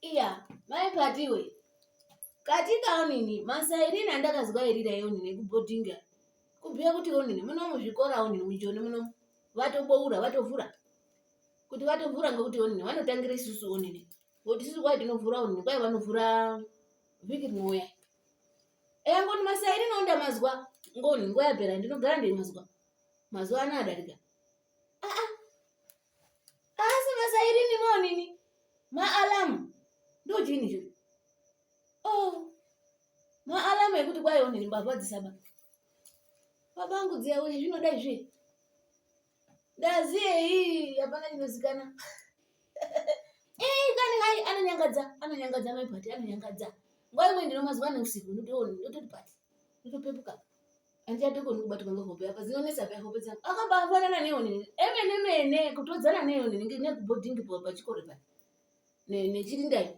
iya mai kati iwe katika onini masairini andakazwairira eonini kubhodhinga kubhuya kuti onini muno muzvikora onini mujoni muno vatoboura vatovhura kuti vatovhura ngokuti onini vanotangira isusu onini ngokuti isusu kwai tinovhura onini kwai vanovhura vhiki rinouya eya ngoni masairini onda mazwa ngoni nguva yapera ndinogara ndeimazwa mazuva ano adarika asi masairini monini maalamu ndojini zvo oh maalamu ekuti kwaionini mbavha dzisaba babangu dziyawe zvinoda izvi ndazi eyi hapana chinozikana eyi kani hai anonyangadza anonyangadza maipati anonyangadza nguva imwe ndinomazwa neusiku ndototi pati ndotopepuka andichadokoni kubatwa ngehope apa dzinonetsa pa hope dzangu akambafanana neonini emene mene kutodzana neonini nekubhodhingi pachikoro pa nechirindai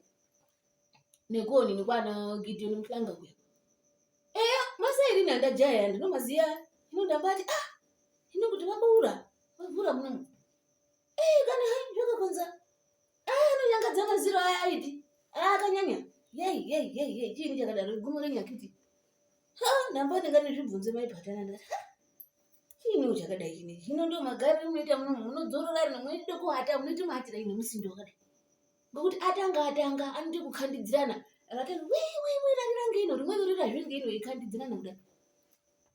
nekuonini kwana gideoni muhlanga kuya eya masairini andajaya ndinomaziya hino ndambati ah hino kuti vaboura vavhura munomu ei kana hai zvakakonza aya anonyangadza maziro aya aiti aya akanyanya yei yei yei yei chiini chakadaro gumo renyakiti ha ndamba ndinganizvibvunze maipatana ndati ha chiiniwo chakadai chine hino ndo magariro munoita muno munodzorora rino munoita kuata munoita maatira ine musindo wakadai ngokuti atanga atanga anoita kukhandidzirana akatanga wiwiwi rarirange ino rimweni rira zvinge ino ikhandidzirana kudai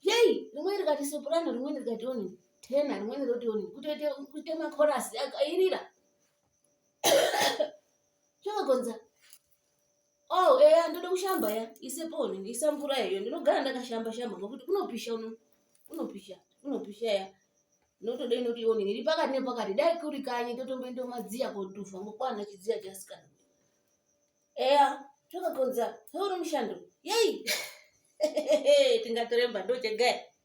yei rimweni rikati soprano rimweni rikati oni tena rimweni roti oni kutoita kuita makorasi akairira zvakagonza Oh, eya ndoda kushamba ya. Isepo ni isa mvura iyo. Ndinogara ndakashamba shamba ngokuti kunopisha uno. Kunopisha. Kunopisha ya. Notoda inoti ione iri pakati nepakati dai kuri kanyi totomboenda madziya kotufa ngokwana chidziya chasikana. Eya, zvakakonza. Hauri mushando. Yei. Tingatoremba ndochegaya.